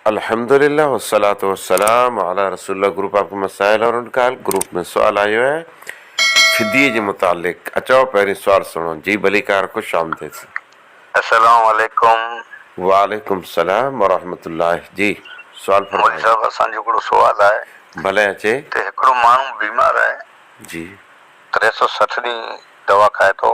الحمدللہ والصلوۃ والسلام علی رسول اللہ گروپ آپ کے مسائل اور ان کا حل گروپ ۾ سوال آيو آهي فديي جي متعلق اچو پهرين سوال سڻو جي ڀليڪار خوش آمديد. اسلام عليڪم. وعليڪم السلام ورحمة الله جي سوال فرمايو. مولوي صاحب اسان جو هڪڙو سوال آهي. ڀلي اچي. ته هڪڙو ماڻهو بيمار آهي. جي. ٽي سؤ سٺ ڏينهن دوا کائي ٿو.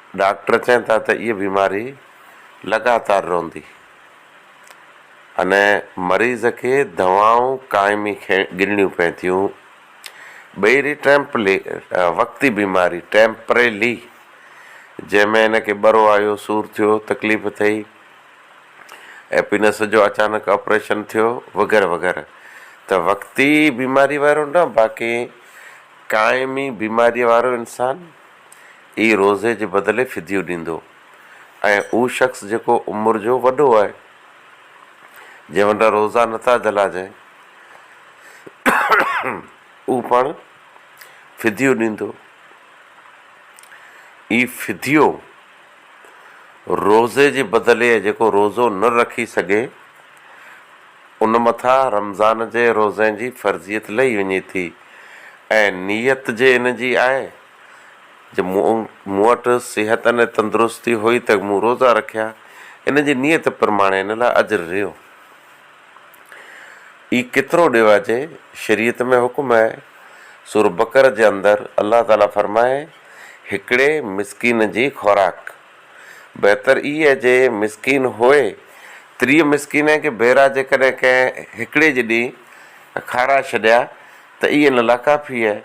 ڊاڪٽر چون ٿا ته اهي بيماري لڳاتار رهندي ان مريض کي دوائون قائمي گنڙيون پين ٿيون ٻيري ٽيمپلي وقتي بيماري ٽيمپريلي جنهن ۾ ان کي ٻرو آيو سور ٿيو تڪليف ٿئي ايپينس جو اچانڪ آپريشن ٿيو وغيره وغيره ته وقتي بيماري وارو نه باقي قائمي بيماري وارو انسان ئي روزي جي بدلي فديو ڏيندو ۽ اھو شخص جيڪو عمر جو وڏو آھي جنھن وٽان روزا نه ٿا جھلاجين اھو پڻ فديو ڏيندو. ئي فديو. روزي جي بدلي ۽ جيڪو روزو نه رکي سگهي ان مٿان رمضان جي روزي جي فرضيت لهي وڃي ٿي ۽ نيت جي ان جي آهي جو مون مون وٽ صحت ۽ تندرستي هئي ته مون روزا رکيا ان جي نيت پرماڻي ان لاء اجر رهيو. اي ڪيترو ڏيواجي شريعت ۾ حڪم آهي سورة بقرة جي اندر الله تعالي فرمائي هڪڙي مسڪين جي خوراڪ بهتر اي آهي جي مسڪين هوئي تري مسڪين آهي ڪي ڀيرا جيڪڏهن ڪنهن هڪڙي جي ڏي کارائي ڇڏيا ته اي ان لا ڪافي آهي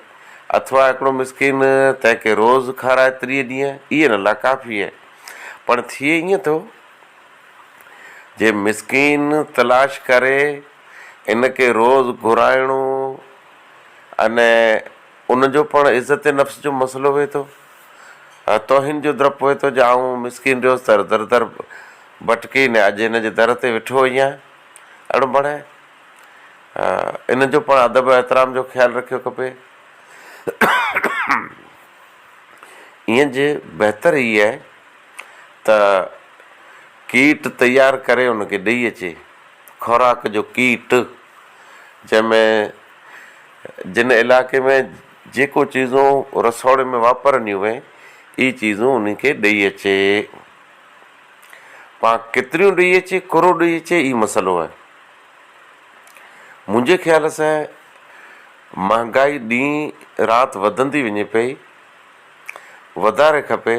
اٿوا هڪڙو مسڪين تنهن کي روز کارائي تري ڏينهن اي ان لا ڪافي آهي پڻ ٿئي ائين ٿو جي مسڪين تلاش ڪري ان کي روز گهرائڻو ان ان جو پڻ عزت نفس جو مسئلو وي ٿو توهين جو درپ وي ٿو جا آئون مسڪين ريوس در در در ڀٽڪي نه اڄ ان جي در تي ويٺو ايان اڙ بڻي ان جو پڻ ادب احترام جو خيال رکيو کپي ائين جي بهتر هي آهي ته ڪيٽ تيار ڪري ان کي ڏئي اچي، خوراڪ جو ڪيٽ، جنهن ۾ جن علائقي ۾ جيڪو چيزون رسوڙي ۾ واپرنديون وين اهي چيزون انهن کي ڏئي اچي. پا ڪيتريون ڏئي اچي ڪهڙو ڏئي اچي اهي مسئلو آهي. منهنجي خيال سان مهانگائي ڏينهن رات وڌندي وڃي پئي، وڌاري کپي.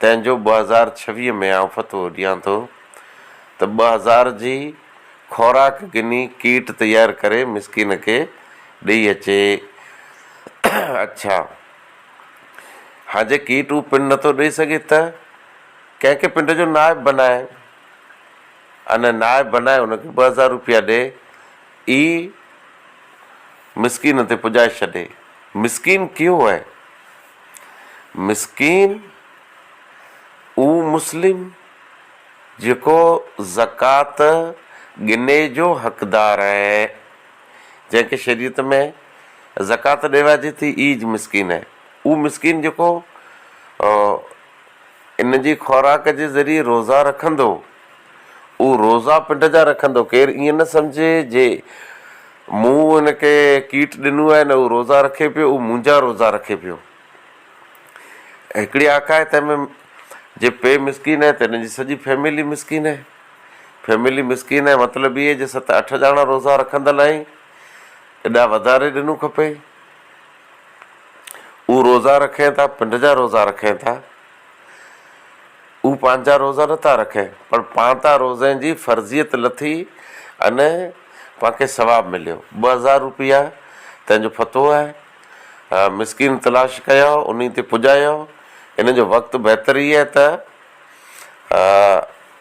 تنهن جو ٻه هزار ڇويهه ۾ آئون فتوو ڏيان ٿو ته ٻه هزار جي خوراڪ گني ڪيٽ تيار ڪري مسڪين کي ڏئي اچي. اڇا هان جي ڪيٽ هو پنڊ نٿو ڏئي سگهي ته ڪنهن کي پنڊ جو نائب بنائي ان نائب بنائي ان کي ٻه هزار روپيا ڏئي اي مسڪين تي پڄائي ڇڏي. مسڪين ڪيو هي مسڪين اهو مسلم جيڪو زڪوات ڳني جو حقدار اهي جنهن کي شريعت ۾ زڪوات ڏيوائجي ٿي اهي مسڪين اهي اهو مسڪين جيڪو ان جي خوراڪ جي ذريعي روزا رکندو. اهو روزا پنڊ جا رکندو. ڪير ائين نه سمجهي جي مون هن کي ڪيٽ ڏنو آهي نه هو روزا رکي پيو اهو منهنجا روزا رکي پيو. هڪڙي آکاهي تنهن ۾ جي پي مسڪين آهي ته هن جي سڄي فيملي مسڪين آهي. فيملي مسڪين آهي مطلب اهي جي ست اٺ ڄاڻا روزا رکندل آهين ايڏا وڌاري ڏنو کپئي. هو روزا رکين ٿا پنڊ جا روزا رکين ٿا هو پنهنجا روزا نٿا رکين پر پان تان روزين جي فرضيت لٿي ان پانکي ثواب مليو ٻه هزار روپيا تنهنجو فتو آهي مسڪين تلاش ڪيا ان تي پڄايا ان جو وقت بهتر هي ته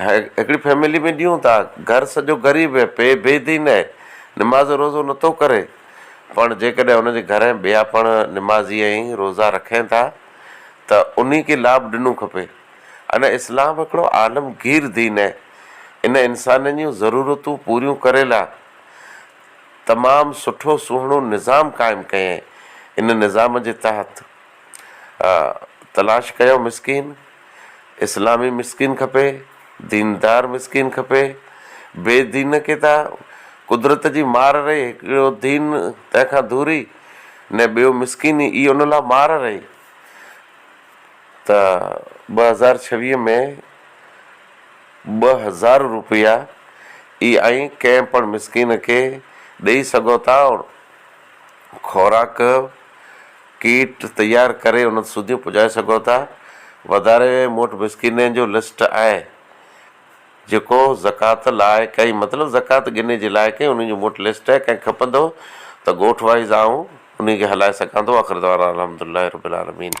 هڪڙي فيملي ۾ ڏيون ٿا گهر سڄو غريب هي پي بي دين هي نماز روزو نٿو ڪري پڻ جيڪڏهن ان جي گهر ۾ ٻيا پڻ نمازي ۽ روزا رکين ٿا ته انهي کي لاڀ ڏنو کپي ان اسلام هڪڙو عالم گير دين هي ان انسانن جون ضرورتون پوريون ڪري لا تمام سٺو سهڻو نظام قائم ڪيائين ان نظام جي تحت ها تلاش ڪيو مسڪين، اسلامي مسڪين کپي، ديندار مسڪين کپي، بي دين کي ته قدرت جي مار رهي هڪڙو دين تنهن کان ڌوري نه ٻيو مسڪين ئي ان لا مار رهي ته ٻه هزار ڇويهه ۾ ٻه هزار روپيا ئي اوهين ڪنهن پڻ مسڪين کي ڏئي سگهو ٿا خوراڪ ڪيٽ تيار ڪري انهن سوڌيون پڄائي سگهو ٿا. وڌاري ۾ مون وٽ مسڪينين جو لسٽ آهي جيڪو زڪوات لاء ڪئي مطلب زڪوات ڳني جي لاء ڪئي انهن جو مون وٽ لسٽ آهي ڪنهن کي کپندو ته ڳوٺ وائيز آئون انهي کي هلائي سگهان ٿو آخر دعوانا الحمد لله رب العالمين.